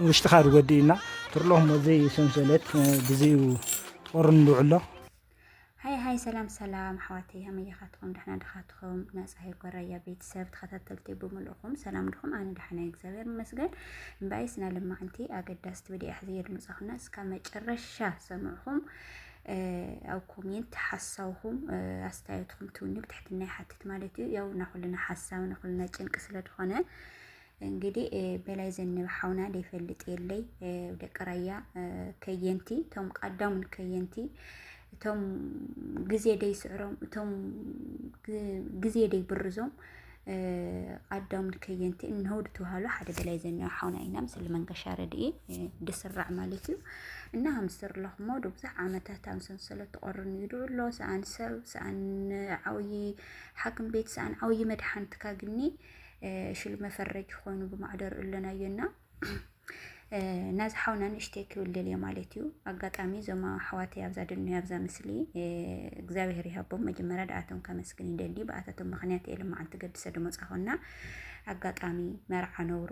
ውሽጥኻ ዝጎድእ እዩና ትርሎ እሞ ዘይ ሰንሰለት ብዘዩ ጦርን ዝውዕሎ ሃይ ሃይ ሰላም ሰላም ኣሕዋተይ ከመይ ኢኻትኩም ድሕና ድኻትኩም ናይ ፀሃይ ጎራያ ቤተሰብ ተኸታተልቲ ብምልእኹም ሰላም ድኹም ኣነ ድሓና እግዚኣብሔር ይመስገን እምበኣይ ስነ ልማዕንቲ ኣገዳስቲ ብዲያ ሕዝየ ድምፀኹና እስካብ መጨረሻ ሰምዕኹም ኣብ ኮሜንት ሓሳውኹም ኣስተያየትኩም ትውኒ ብትሕትና ይሓትት ማለት እዩ ያው ናኹልና ሓሳብ ናኹልና ጭንቂ ስለ ዝኾነ እንግዲህ በላይ ዘነበ ሓውና ደይፈልጥ የለይ ደቂ ራያ ከየንቲ እቶም ቀዳሙን ከየንቲ እቶም ግዜ ደይስዕሮም እቶም ግዜ ደይብርዞም ቀዳሙን ከየንቲ እነሆ ድትውሃሉ ሓደ በላይ ዘነበ ሓውና ኢና ምስሊ መንገሻ ረድኢ ድስራዕ ማለት እዩ እና ሃምስር ለኹሞ ብዙሕ ዓመታት ኣብ ሰንሰለት ተቆርኑ ይድዑ ኣሎ ሰኣን ሰብ ሰኣን ዓብዪ ሓኪም ቤት ሰኣን ዓብዪ መድሓንትካ ግኒ ሽል መፈረጅ ኮይኑ ብማዕደር እለናዮ እና ናዚ ሓውና ንእሽተይ ክብል ደልየ ማለት እዩ ኣጋጣሚ እዞም ኣሕዋተይ ኣብዛ ድንዮ ኣብዛ ምስሊ እግዚኣብሄር ይሃቦም መጀመርያ ድኣቶም ከመስግን ይደሊ ብኣታቶም ምክንያት እየ ልማዓንቲ ገድሰ ድመፃኹና ኣጋጣሚ መርዓ ነውሩ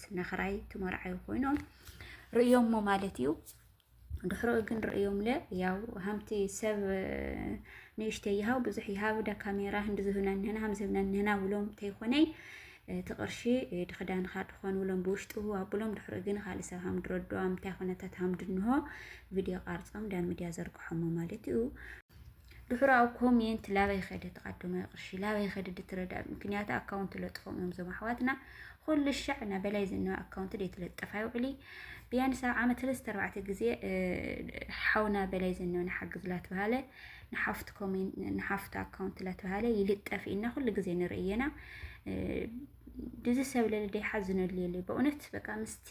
ነኽራይ ትመርዓዩ ኮይኖም ርእዮሞ ማለት እዩ ድሕሮ ግን ርእዮም ለ ያው ሃምቲ ሰብ ንእሽተ ይሃው ብዙሕ ይሃብ ዳ ካሜራ ህንዲ ዝህብና ንህና ሃም ዝህብና ንህና ውሎም ተይኮነይ እቲ ቅርሺ ድክዳንካ ድኾን ውሎም ብውሽጡ ኣብሎም ድሕሮ ግን ካልእ ሰብ ሃም ድረዶ ኣምታይ ኮነታት ሃም ድንሆ ቪድዮ ቃርፆም ዳ ሚድያ ዘርግሖሞ ማለት እዩ ድሑር ኣብ ኮሜንት ላበይ ኸደ ተቀድሞ ቅርሺ ላበይ ኸደ ድትረዳ ምክንያቱ ኣካውንት ለጥፎም እዮም ዞም ኣሕዋትና ኩሉ ሻዕ እና በላይ ዝና ኣካውንት ደይትለጠፍ ኣይውዕሊ ቢያንስ ኣብ ዓመት ሰለስተ ኣርባዕተ ግዜ ሓውና በላይ ዝና ንሓግዝ ላትበሃለ ንሓፍቱ ኮሜንት ንሓፍቱ ኣካውንት ላትበሃለ ይልጠፍ ኢና ኩሉ ግዜ ንርእየና ድዚ ሰብ ለልደ ይሓዝነሉ የለ በእውነት በቃ ምስቲ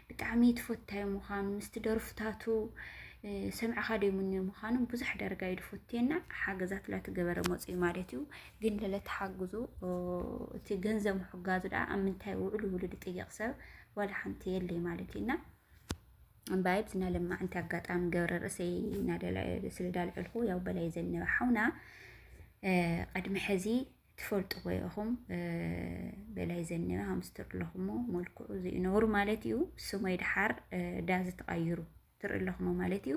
ብጣዕሚ ትፈታዩ ምዃኑ ምስቲ ደርፍታቱ ሰምዕኻ ደይምንዮ ምዃኑ ብዙሕ ደረጋ እዩ ድፈትየና ሓገዛት ላትገበረ መፅኡ ማለት እዩ ግን ለለተሓግዙ እቲ ገንዘብ ምሕጋዙ ድኣ ኣብ ምንታይ ውዕሉ ውሉ ድጥየቕ ሰብ ዋላ ሓንቲ የለይ ማለት እዩና እምበኣይ ብዝና ለማ ዕንቲ ኣጋጣሚ ገብረ ርእሰይ ስለ ዳልዐልኩ ያው በላይ ዘነበ ሓውና ቅድሚ ሕዚ ትፈልጥዎ ኢኹም በላይ ዘኒባ ሃምስተር ኣለኹሞ መልክዑ እዚኡ ነብሩ ማለት እዩ ስሞይ ድሓር ዳዚ ተቐይሩ ትርኢ ኣለኹሞ ማለት እዩ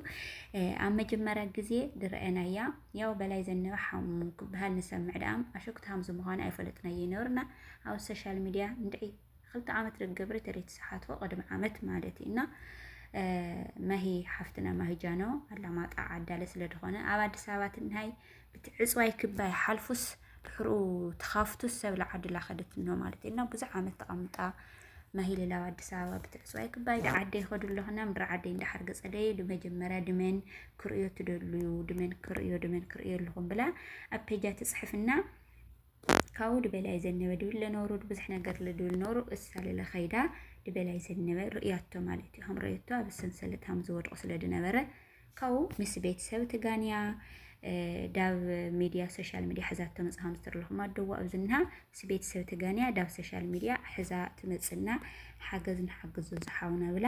ኣብ መጀመርያ ግዜ ድረአናያ ያው በላይ ዘኒባ ሓሙ ክበሃል ንሰምዕ ደኣም ኣሸኩት ሃምዚ ምዃኑ ኣይፈለጥናዮ ይነብርና ኣብ ሶሻል ሚድያ እንድዒ ክልተ ዓመት ደገብረ ተሪት ሰሓቶ ቅድሚ ዓመት ማለት እዩ እና ማሂ ሓፍትና ማሂጃኖ ኣላማጣ ዓዳለ ስለ ዝኾነ ኣብ ኣዲስ ኣበባ ትንሃይ እቲ ዕፅዋይ ክባይ ሓልፉስ ድሕሩ ተኻፍቱስ ሰብ ለዓድላ ከደት እንሆ ማለት እዩ እና ብዙሕ ዓመት ተቐምጣ ማሂሌ ላብ ኣዲስ ኣበባ ብትዕፅዋይ ክባይ ድዓደይ ከዱ ኣለኹና ምድሪ ዓደይ እንዳሓር ገፀደይ ድመጀመርያ ድመን ክርእዮ ትደልዩ ድመን ክርእዮ ድመን ክርእዮ ኣለኹም ብላ ኣብ ፔጃ ትፅሕፍና ካብኡ ድበላይ ዘነበ ድብል ለኖሩ ብዙሕ ነገር ልድብል ኖሩ እሳ ልለ ከይዳ ድበላይ ዘነበ ርእያቶ ማለት እዩ ከም ረየቶ ኣብ ሰንሰለት ሃም ዝወድቁ ስለ ድነበረ ካብኡ ምስ ቤተሰብ ትጋንያ ዳብ ሚድያ ሶሻል ሚድያ ሕዛ ተመፅ ከም ዝተርለኹም ኣደዋ ኣብዝና ምስ ቤተሰብ ትጋንያ ዳብ ሶሻል ሚድያ ሕዛ ትመፅና ሓገዝ ንሓግዞ ዝሓውና ብላ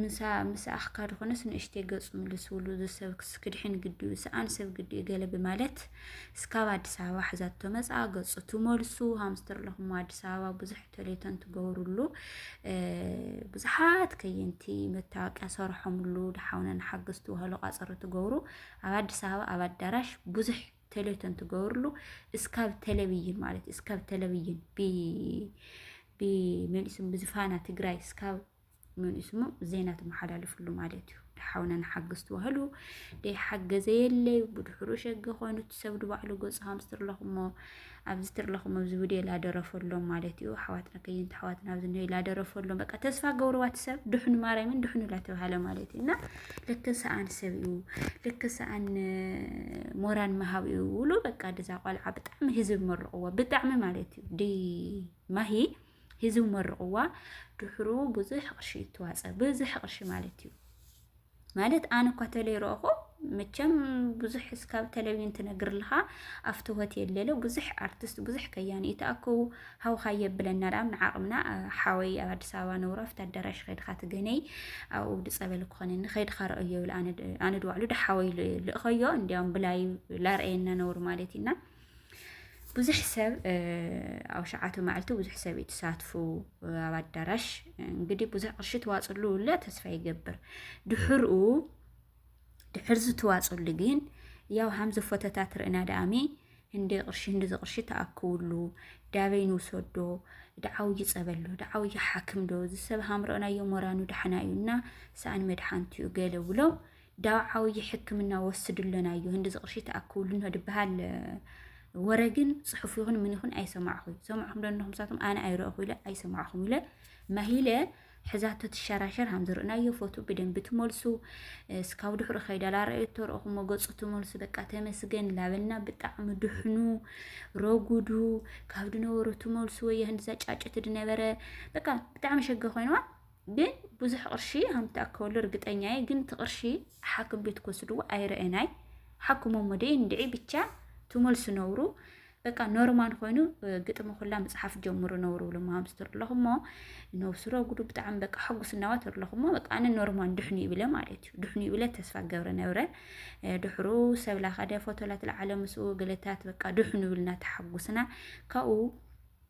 ምሳ ምስ ኣኽካ ድኾነስ ንእሽተይ ገጹ ምልስውሉ ዝሰብ ክድሕን ግዲኡ ሰኣን ሰብ ግዲኡ ገለ ብማለት እስካብ ኣዲስ ኣበባ ሕዛቶ መጻ ገጹ ትመልሱ ሃምስተርለኹሞ ኣዲስ ኣበባ ብዙሕ ተሌቶን ትገብሩሉ ብዙሓት ከየንቲ መታወቂያ ሰርሖምሉ ድሓውነን ሓገዝቲ ውሃሉ ቃጸሮ ትገብሩ ኣብ ኣዲስ ኣበባ ኣብ ኣዳራሽ ብዙሕ ተሌቶን ትገብሩሉ እስካብ ቴሌቪዥን ማለት እስካብ ቴሌቪዥን ብ ብመልስም ብዝፋና ትግራይ እስካብ መን እዩ ስሙ ዜና ትመሓላለፍሉ ማለት እዩ ድሓውና ንሓግዝ ተባህሉ ደይሓገዘ የለዩ ብድሕሩ ሸገ ኮይኑ እቲ ሰብ ድባዕሉ ገፁ ሃምስ ትርለኹሞ ኣብዚ ትርለኹሞ ኣብዚ ቪድዮ ላደረፈሎም ማለት እዩ ኣሕዋትና ከይንቲ ኣሕዋትና ኣብዚ ነ ላደረፈሎም በቃ ተስፋ ገብርዋ እቲ ሰብ ድሕኑ ማርያምን ድሕኑ ላተባሃለ ማለት እዩ እና ልክ ሰኣን ሰብ እዩ ልክ ሰኣን ሞራን መሃብ እዩ ውሉ በቃ ድዛ ቆልዓ ብጣዕሚ ህዝብ መርቕዎ ብጣዕሚ ማለት እዩ ዲ ማሂ ሂዝው መርቕዋ ድሕሩ ብዙሕ ቅርሺ ይተዋፀ ብዙሕ ቅርሺ ማለት እዩ ማለት ኣነ እኳ ተለይ ረእኹ መቸም ብዙሕ እስካብ ተለብይን ትነግርልኻ ኣብቲ ሆቴል ሌሎ ብዙሕ ኣርቲስት ብዙሕ ከያኒ ይተኣከቡ ሃውካ የብለና ዳም ንዓቕምና ሓወይ ኣብ ኣዲስ ኣበባ ነብሮ ኣብቲ ኣዳራሽ ከድካ ትገነይ ኣብኡ ድፀበል ክኾነኒ ከድካ ረእዮ ይብል ኣነ ድባዕሉ ድሓወይ ልእኸዮ እንዲያውም ብላይ ላርአየና ነብሩ ማለት እዩና ብዙሕ ሰብ ኣብ ሸዓተ መዓልቲ ብዙሕ ሰብ እዩ ተሳትፉ ኣብ ኣዳራሽ እንግዲህ ብዙሕ ቅርሺ ተዋፅሉ እለ ተስፋ ይገብር ድሕርኡ ድሕር ዝትዋፅሉ ግን ያው ሃምዚ ፎተታት ርእና ዳኣሚ እንደ ቅርሺ እንደ ቅርሺ ተኣክብሉ ዳበይ ንውሰዶ ድዓው ይፀበሎ ድዓው ይሓክም ዶ ዝሰብ ሃምረኦናዮ ሞራኑ ዳሕና እዩና ሰኣን መድሓንት እዩ ገለ ብሎ ዳው ዓውዪ ሕክምና ወስዱ ኣለና እዩ ህንዲ ዝቕርሺ ተኣክብሉ እንሆ ድበሃል ወረ ግን ፅሑፍ ይኹን ምን ይኹን ኣይሰማዕኹ ሰማዕኹም ደንኹም ሳቶም ኣነ ኣይረእኹ ኢለ ኣይሰማዕኹም ኢለ ማሂለ ሕዛቶ ትሸራሸር ሃም ዝርእናዮ ፎቶ ብደንብ ትመልሱ እስካብ ድሕሪ ከይዳ ላረእየቶ ረእኹሞ ገፁ ትመልሱ በቃ ተመስገን ላበልና ብጣዕሚ ድሕኑ ረጉዱ ካብ ድነበሩ ትመልሱ ወይ ህንድዛ ጫጭት ድነበረ በቃ ብጣዕሚ ሸገ ኮይንዋ ግን ብዙሕ ቅርሺ ከም ትኣከበሉ እርግጠኛ እየ ግን እቲ ቅርሺ ሓክም ቤት ክወስድዎ ኣይረአናይ ሓክሞ ሞደ እንድዒ ብቻ ትመልሱ ነብሩ በቃ ኖርማል ኮይኑ ግጥሚ ኩላ ምፅሓፍ ጀምሩ ነብሩ ብሎ ማምስ ትርለኹ እሞ ነብሱ ረጉዱ ብጣዕሚ በቃ ሕጉስ እናዋ ትርለኹ እሞ በቃ ኣነ ኖርማል ድሕኑ ይብለ ማለት እዩ ድሕኑ ይብለ ተስፋ ገብረ ነብረ ድሕሩ ሰብላ ካደ ፎቶላት ለዓለ ምስኡ ገለታት በቃ ድሕኑ ይብልና ተሓጉስና ካብኡ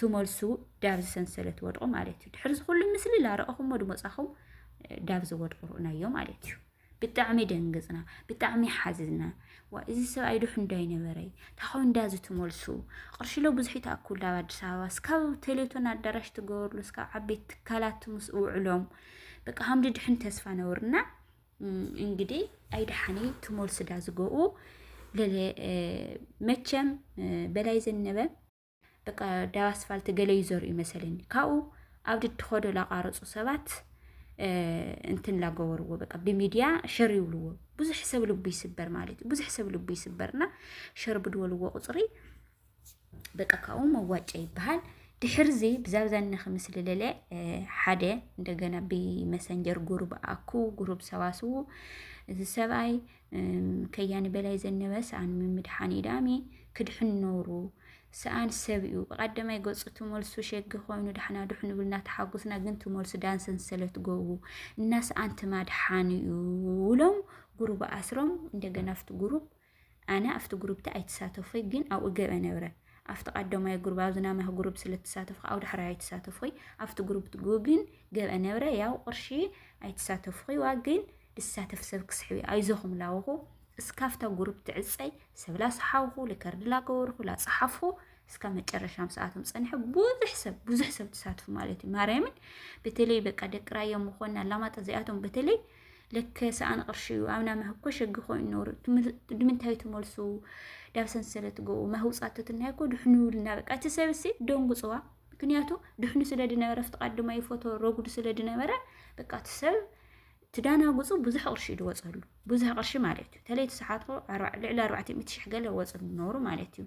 ትመልሱ ዳብዚ ሰንሰለት ወድቑ ማለት እዩ ድሕሪ ዝኩሉ ምስሊ ላረእኹሞ ድመፃኹም ዳብዚ ወድቑ ርኡናዮ ማለት እዩ ብጣዕሚ ደንግፅና ብጣዕሚ ሓዝና ዋ እዚ ሰብኣይ ዶሕ እንዳይ ነበረይ ታኾ እንዳ ዝትመልሱ ቅርሽሎ ብዙሕ ይትኣክሉ ኣብ ኣዲስ ኣበባ እስካብ ቴሌቶን ኣዳራሽ ትገበርሉ እስካብ ዓበይቲ ትካላት ምስ ውዕሎም በቃ ሃምዲ ድሕን ተስፋ ነውርና እንግዲህ ኣይድሓኒ ትመልሱ ዳ ዝገኡ መቸም በላይ ዘነበ በቃ ዳብ ኣስፋልቲ ገለ ይዘርኡ መሰለኒ ካብኡ ኣብ ድድኸዶ ላቋረፁ ሰባት እንትን ላገበርዎ በቃ ብሚድያ ሸር ይብልዎ ብዙሕ ሰብ ልቡ ይስበር ማለት እዩ ብዙሕ ሰብ ልቡ ይስበርና ሸር ብድወልዎ ቁፅሪ በቃ ካብኡ መዋጫ ይበሃል ድሕርዚ ብዛብዛኒ ክምስሊ ለለ ሓደ እንደገና ብመሰንጀር ጉሩብ ኣኩ ጉሩብ ሰባስቡ እዚ ሰብኣይ ከያኒ በላይ ዘነበ ሰኣን ምምድሓን ኢዳሚ ክድሕን ኖሩ ሰኣን ሰብ እዩ ብቀዳማይ ገጹ ትመልሱ ሸጊ ኮይኑ ዳሕና ድሕኑ ብልና ተሓጉስና ግን ትመልሱ ዳን ሰንሰለት ገቡ እና ሰኣን ትማድሓን እዩ ውሎም ጉሩብ ኣስሮም እንደገና ኣብቲ ጉሩብ ኣነ ኣብቲ ጉሩብቲ ኣይተሳተፎይ ግን ኣብኡ ገበ ነብረ ኣፍቲ ቃደማይ ጉሩብ ኣብዚ ናማህ ጉሩብ ስለ ትሳተፍ ከኣ ኣብ ዳሕራይ ኣይትሳተፍኹይ ኣፍቲ ጉሩብ ትጉግን ገብአ ነብረ ያው ቅርሺ ኣይትሳተፍኹይ ዋ ግን ድሳተፍ ሰብ ክስሕብ ኣይዞኹም ላወኹ እስካፍታ ጉሩብ ትዕጸይ ሰብ ላሰሓውኹ ልከርድ ላገበርኹ ላጸሓፍኹ እስካ መጨረሻም ሰዓቶም ጸንሐ ብዙሕ ሰብ ብዙሕ ሰብ ተሳትፉ ማለት እዩ ማርያምን በተለይ በቃ ደቂ ራያ ምኾና ኣላማጣ እዚኣቶም በተለይ ልክ ሰኣን ቅርሺ እዩ ኣብና መህኮ ሸጊ ኮይኑ ነሩ ድምንታይ ትመልሱ ዳብ ሰንሰለት ገኡ መህውፃቶ ትናይኮ ድሕኑ ይብልና በቃ እቲ ሰብሲ ደንጉፅዋ ምክንያቱ ድሕኑ ስለ ድነበረ ፍትቃድ ድማ ይፎቶ ረጉድ ስለ ድነበረ በቃ እቲ ሰብ ትዳናጉፁ ብዙሕ ቅርሺ እዩ ድወፀሉ ብዙሕ ቅርሺ ማለት እዩ ተለይ ተሰሓትኩ ልዕሊ ኣርባዕተ ሚእቲ ሽሕ ገለ ወፅ ነሩ ማለት እዩ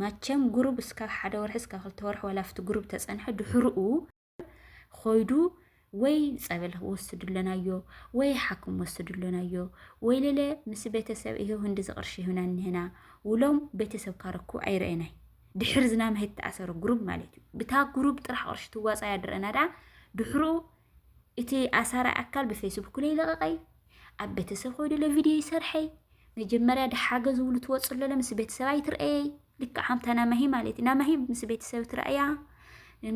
ማቸም ጉሩብ እስካብ ሓደ ወርሒ እስካብ ክልተ ወርሒ ዋላ ኣብቲ ጉሩብ ተፀንሐ ድሕርኡ ኮይዱ ወይ ፀበል ወስድለናዮ ወይ ሓኩም ወስድለናዮ ወይ ሌለ ምስ ቤተሰብ ይሄ ህንዲ ዝቅርሽ ይሁና እንህና ውሎም ቤተሰብ ካረኩ ኣይረአናይ ድሕር ዝናም ሄት ተኣሰሩ ጉሩብ ማለት እዩ ብታ ጉሩብ ጥራሕ ቅርሽ ትዋፃ ያድረና ዳ ድሕሩ እቲ ኣሳራ ኣካል ብፌስቡክ ላይ ለቀቀይ ኣብ ቤተሰብ ኮይዱ ለቪድዮ ይሰርሐይ መጀመርያ ድሓገ ዝብሉ ትወፅሎ ምስ ቤተሰብ ኣይትርኣየይ ልክዕ ከምታ ናማሂ ማለት እዩ ናማሂ ምስ ቤተሰብ ትርኣያ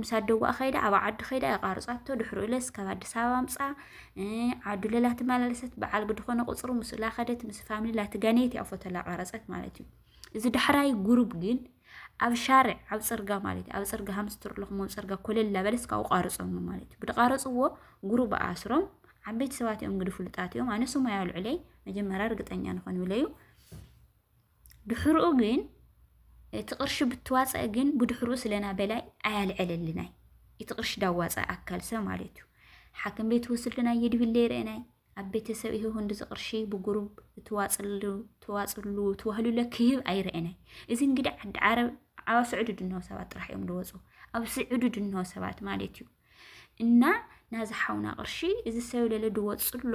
ምስ ኣደዋኣ ከይዳ ኣብ ዓዲ ከይዳ የቋርፃቶ ድሕሪ እለስ ካብ ኣዲስ ኣበባ ኣምፃ ዓዱ ለላ ትመላለሰት በዓል ግድኾነ ቁፅሩ ምስ ላኸደት ምስ ፋሚሊ ላትጋነየት እያ ፎቶ ላቋረፀት ማለት እዩ እዚ ዳሕራይ ጉሩብ ግን ኣብ ሻርዕ ኣብ ፅርጋ ማለት እዩ ኣብ ፅርጋ ሃምስትር ኣለኹም ኣብ ፅርጋ ኮለል ላበለስ ካብኡ ቋርፆም ማለት እዩ ብድቃረፅዎ ጉሩብ ኣስሮም ዓበይቲ ሰባት እዮም ግዲ ፍሉጣት እዮም ኣነ ስሙ ኣልዕለይ መጀመርያ ርግጠኛ ንኾን ይብለዩ ድሕርኡ ግን እቲ ቅርሺ ብትዋፀእ ግን ብድሕሩ ስለና በላይ ኣያልዐለልናይ እቲ ቅርሺ ዳዋፀ ኣካል ሰብ ማለት እዩ ሓክም ቤት ወስድና የድብለ ይርእናይ ኣብ ቤተሰብ ይህ ወንድ ዝቅርሺ ብጉሩብ ትዋፅሉ ትዋፅሉ ትዋህሉለ ክህብ ኣይርእናይ እዚ እንግዲህ ዓዲ ዓረብ ኣብ ስዑዲ ድንሆ ሰባት ጥራሕ እዮም ዝወፁ ኣብ ስዑዲ ድንሆ ሰባት ማለት እዩ እና ናዚ ሓውና ቅርሺ እዚ ሰብ ለለ ድወፅሎ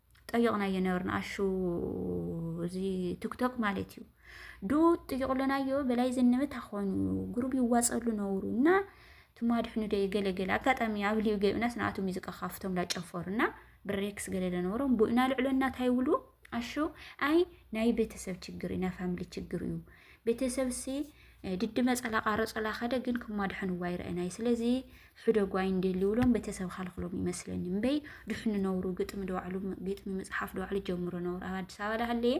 ጠይቕናዮ ነበርና ኣሹ እዚ ቲክቶክ ማለት እዩ ዱ ጥይቕሎናዮ በላይ ዝንብ ታኾኑ ጉሩብ ይዋፀሉ ነውሩ እና ትማ ድሕኑ ደ ገለገለ ኣጋጣሚ ኣብ ልዩ ገቢናስ ንኣቱ ሙዚቃ ካፍቶም ላጨፈሩ እና ብሬክስ ገለ ለነበሮም ቡእና ልዕሎ እናታይ ውሉ ኣሹ ኣይ ናይ ቤተሰብ ችግር እዩ ናይ ፋሚሊ ችግር እዩ ቤተሰብ ሲ ድዲ መፀላ ቃረፆላ ከደ ግን ክማ ድሕንዋ ይረአናይ ስለዚ ሕደጉ ኣይንደልዩብሎም ቤተሰብ ኻልክሎም ይመስለኒ እምበይ ድሕኑ ነውሩ ግጥሚ ደዋዕሉ ግጥሚ ምፅሓፍ ደዋዕሉ ጀምሮ ነውሩ ኣብ ኣዲስ ኣበባ ዳሃለየ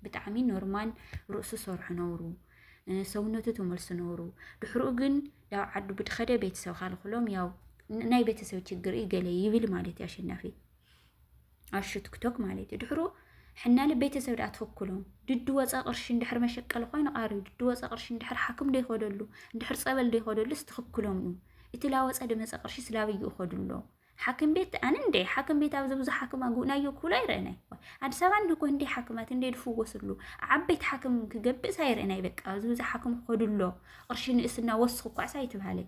ብጣዕሚ ኖርማል ርእሱ ሰርሑ ነውሩ ሰውነቱ ተመልሱ ነውሩ ድሕርኡ ግን ያው ዓዱ ብድኸደ ቤተሰብ ኻልክሎም ያው ናይ ቤተሰብ ችግር ገለ ይብል ማለት እዩ ኣሸናፊ ኣሹ ትክቶክ ማለት እዩ ድሕሩ ሕናለ ቤተሰብ ድኣ ትኽክሎም ድዲ ወፀ ቅርሺ እንድሕር መሸቀሊ ኮይኑ ቃሪ ድዲ ወፀ ቅርሺ እንድሕር ሓክም ደይኸደሉ እንድሕር ጸበል ደይኸደሉስ ትኽክሎም እዩ እቲ ላወፀ ድመፀ ቅርሺ ስላበይ ይኸዱ ኣሎ ሓክም ቤት ኣነ እንደ ሓክም ቤት ኣብዚ ብዙ ሓክም ኣጉእናዮ ክብሉ ኣይረአናይ ኣዲስ ኣበባ እንድኮ እንደ ሓክማት እንደ ድፍወስሉ ዓበይቲ ሓክም ክገብእስ ኣይረአናይ በቃ ኣብዚ ብዙ ሓክም ክኸዱ ኣሎ ቅርሺ ንእስና ወስኹ ኳዕሳ ኣይትብሃለይ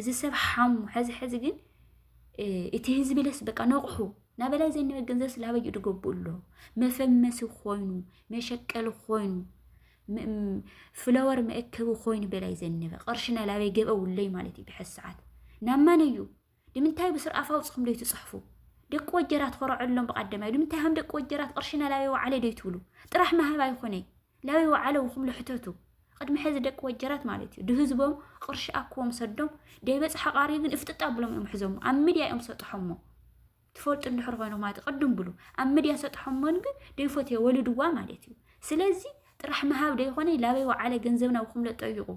እዚ ሰብ ሓሙ ሕዚ ሕዚ ግን እቲ ህዝቢ ለስ በቃ ነቕሑ ናብ በላይ ዘንበ ገንዘብ ስላበዩ ድገብኡ ኣሎ መፈመሲ ኮይኑ መሸቀሊ ኮይኑ ፍለወር መእከቢ ኮይኑ በላይ ዘነበ ቅርሽና ላበይ ገበውለይ ማለት እዩ ብሐዚ ሰዓት ናብ ማን እዩ ንምንታይ ብስር ኣፍ ኣውፅኹም ዶ ትፅሕፉ ደቂ ወጀራት ኮረዐሎም ብቀደማይ ንምንታይ ሃም ደቂ ወጀራት ቅርሽና ላበይ ወዓለ ዶ ትብሉ ጥራሕ ማሃብ ኣይኮነይ ላዩ ወዓለውኹም ልሕተቱ ቅድሚ ሕዚ ደቂ ወጀራት ማለት እዩ ድህዝቦም ቕርሺ ኣክዎም ሰዶም ደይበፅሓ ቃሪ ግን እፍጥጥ ኣብሎም እዮም ሕዞሞ ኣብ ሚድያ እዮም ሰጥሖሞ ትፈልጡ እንድሕር ኮይንኹም ማለት ቅድም ብሉ ኣብ ሚድያ ሰጥሖሞን ግን ደይፎትዮ ወልድዋ ማለት እዩ ስለዚ ጥራሕ ምሃብ ደይኮነ ላበይ ወዓለ ገንዘብና ውኩም ለጠይቁ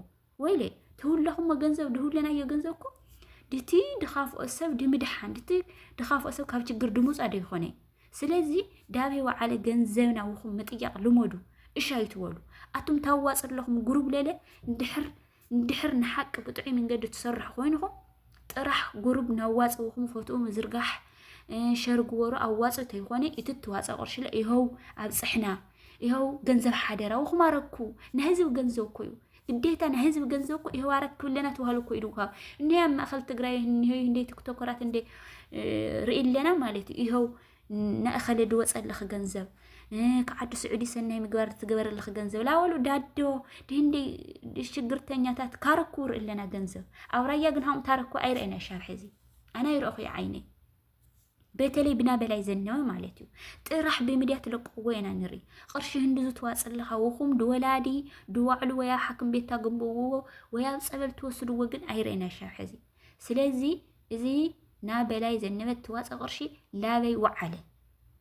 ወይለ ተውላኹሞ ገንዘብ ድህውለናዮ ገንዘብ እኮ ድቲ ድኻፍኦ ሰብ ድምድሓን ድቲ ድኻፍኦ ሰብ ካብ ችግር ድምፃ ዶ ይኾነ ስለዚ ዳብ ወዓለ ገንዘብ ናውኹም ምጥያቕ ልመዱ እሻ ይትበሉ ኣቱም ታዋፅ ኣለኹም ጉሩብ ለለ እንድሕር እንድሕር ንሓቂ ብጥዑይ መንገዲ ትሰርሑ ኮይንኹም ጥራሕ ጉሩብ ናዋፅውኹም ፎትኡ ምዝርጋሕ ሸር ግበሩ ኣዋፅ ተይኮነ እቲ ትዋፀ ቅርሺ ይኸው ኣብፅሕና ይኸው ገንዘብ ሓደራውኹም ኣረኩ ናይ ህዝብ ገንዘብ እኮ እዩ ግዴታ ናይ ህዝቢ ገንዘብ እኮ ኢህዋረት ክብለና ተዋህሉ እኮ ኢድካ እኔ ኣብ ማእኸል ትግራይ እኒሆ እንደ ቲክቶከራት እንደ ርኢ ኣለና ማለት እዩ ይኸው ንእኸለ ድወፀልኺ ገንዘብ ክዓዲ ስዑዲ ሰናይ ምግባር ትገበረልኺ ገንዘብ ላወሉ ዳዶ ድህንዲ ሽግርተኛታት ካረኩ ርኢ ኣለና ገንዘብ ኣብ ራያ ግን ሃም ታረኩ ኣይርእና ሻብ ሕዚ ኣነ ይረእኹ ዓይነይ በተለይ ብና በላይ ዘለወ ማለት እዩ ጥራሕ ብምድያ ትለቅዎ ኢና ንርኢ ቅርሺ ህንዲ ዝትዋፅልኻ ውኹም ድወላዲ ድዋዕሉ ወይ ኣብ ሓክም ቤት ታግብዎ ወይ ኣብ ፀበል ትወስድዎ ግን ኣይረእና ሻብ ሕዚ ስለዚ እዚ ና በላይ ዘነበ ትዋፀ ቅርሺ ላበይ ወዓለ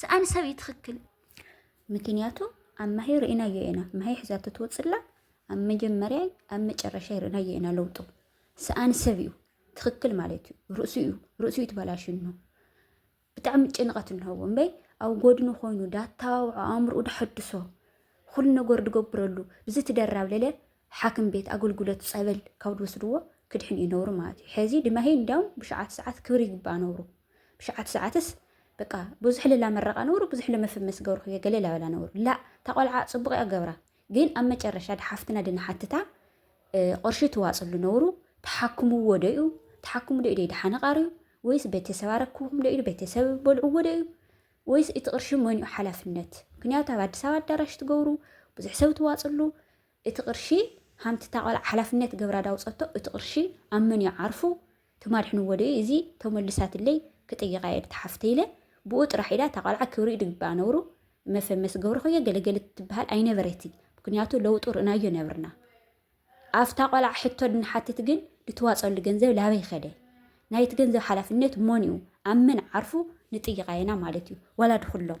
ሰኣን ሰብ እዩ ትኽክል። ምክንያቱ ኣብ ማሂ ርኢናዮ ኢና ማሂ ሕዛቶ ትወፅላ ኣብ መጀመርያ ኣብ መጨረሻ ርኢናዮ ኢና ለውጡ ሰኣን ሰብ እዩ ትኽክል ማለት እዩ ርእሱ እዩ ርእሱ እዩ ትበላሽን ነው ብጣዕሚ ጭንቐት እንሀቦ እምበይ ኣብ ጎድኑ ኮይኑ ዳተባብዖ ኣእምርኡ ዳሐድሶ ኩሉ ነገር ድገብረሉ ብዚ ትደራብ ለለ ሓክም ቤት ኣገልግሎት ፀበል ካብ ድወስድዎ ክድሕን እዩ ነብሩ ማለት እዩ ሕዚ ድማሂ እንዲያውም ብሸዓት ሰዓት ክብሪ ይግባእ ነብሩ ብሸዓተ ሰዓትስ በቃ ብዙሕ ልላ መረቃ ነውሩ ብዙሕ ለመፍመስ ገብሩ ክየ ገለ ላበላ ነውሩ ላ ታቆልዓ ጽቡቅ እያ ገብራ ግን ኣብ መጨረሻ ድሓፍትና ድንሓትታ ቅርሺ ትዋጽሉ ነውሩ ተሓክምዎ ዶ እዩ ተሓክሙ ዶ እዩ ድሓነ ቃርዩ ወይስ ቤተሰብ ኣረክብኩም ዶ እዩ ቤተሰብ በልዕዎ ዶ እዩ ወይስ እቲ ቅርሺ መን እዩ ሓላፍነት? ምክንያቱ ኣብ ኣዲስ ኣበባ ኣዳራሽ ትገብሩ ብዙሕ ሰብ ትዋፅሉ እቲ ቅርሺ ሃምቲ ታቆልዓ ሓላፍነት ገብራ ዳውፀቶ እቲ ቅርሺ ኣብ መን እዩ ዓርፉ ትማድሕንዎ ዶ እዩ እዚ ተመልሳትለይ ክጥይቃ እየ ነታ ሓፍተይ ኢለ ብኡ ጥራሕ ኢላ እታ ቆልዓ ክብሪ እዩ ድግብኣ ነውሩ መፈመሲ ገብርኩ እየ ገለ ገለ ትበሃል ኣይነበረቲ ምክንያቱ ለውጡ ርእናዮ ነብርና ኣፍታ ቆልዓ ሕቶ ድንሓትት ግን ድትዋጸሉ ገንዘብ ላበይ ከደ ናይቲ ገንዘብ ሓላፍነት ሞን እዩ ኣብ መን ዓርፉ ንጥይቃ የና ማለት እዩ ዋላ ድኩሎም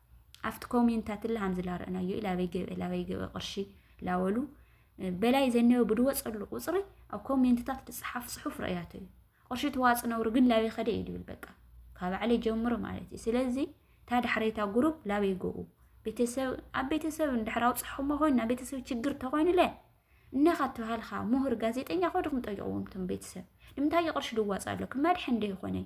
ኣብቲ ኮሜንታት ላ ሃምዚ ላረእናዮ እዩ ላበይ ገብአ ላበይ ገብአ ቅርሺ ላበሉ በላይ ዘነዮ ብድወፀሉ ቁፅሪ ኣብ ኮሜንትታት ዝፅሓፍ ፅሑፍ ረእያቶ እዩ ቅርሺ ተዋፅ ነብሩ ግን ላበይ ከደ እዩ ዝብል በቃ ካብ ባዕለይ ጀምሮ ማለት እዩ ስለዚ እታ ዳሕረይታ ጉሩብ ላበይ ገኡ ቤተሰብ ኣብ ቤተሰብ እንድሕር ኣውፅሖሞ ኮይኑ ናብ ቤተሰብ ችግር ተኮይኑለ እነኻ ተባሃልኻ ምሁር ጋዜጠኛ ኮድኹም ጠይቕዎም ቶም ቤተሰብ ንምንታይ ቅርሺ ድዋፅ ኣሎ ክመድሐ እንደ ይኾነይ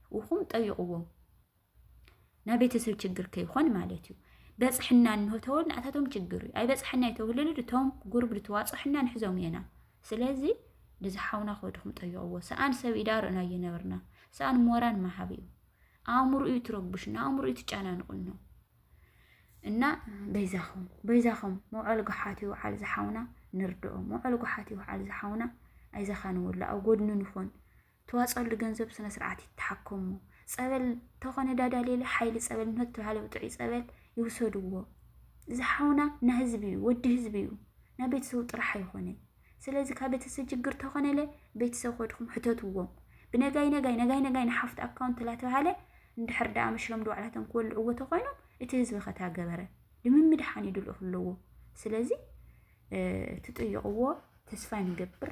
ውኹም ጠይቕዎም ናይ ቤተሰብ ችግር ከይኾን ማለት እዩ በፅሕና እንሆ ተወል ንኣታቶም ችግር እዩ ኣይበፅሐና የተውልሉ ድቶም ጉርብ ድተዋፅሑና ንሕዞም የና ስለዚ ንዝሓውና ከድኹም ጠይቕዎ ሰኣን ሰብ ኢዳ ርእና እየነበርና ሰኣን ሞራን መሃብ እዩ ኣእምሮ እዩ ትረብሽ እና ኣእምሮ እዩ ትጨናንቁን ነው እና በይዛኹም በይዛኹም መውዓል ጉሓት ይውዓል ዝሓውና ንርድኦ መውዓል ጉሓት ይውዓል ዝሓውና ኣይዘኻ ንወላ ኣብ ጎድኑ ንኾን ትዋፀሉ ገንዘብ ስነ ስርዓት ይተሓከሙ ፀበል ተኾነ ዳዳ ሌለ ሓይሊ ፀበል ምህት ተባሃለ ጥዑይ ፀበል ይውሰድዎ እዚ ሓውና ና ህዝቢ እዩ ወዲ ህዝቢ እዩ ና ቤተሰቡ ጥራሕ ኣይኾነን ስለዚ ካብ ቤተሰብ ችግር ተኾነለ ቤተሰብ ኮድኩም ሕተትዎም ብነጋይ ነጋይ ነጋይ ነጋይ ንሓፍት ኣካውንት ላተባሃለ እንድሕር ደኣ መሽሎም ድባዕላቶም ክወልዕዎ ተኾይኖም እቲ ህዝቢ ከታ ገበረ ንምምድሓን ይድልኡ ኣለዎ ስለዚ ትጥይቕዎ ተስፋ ንገብር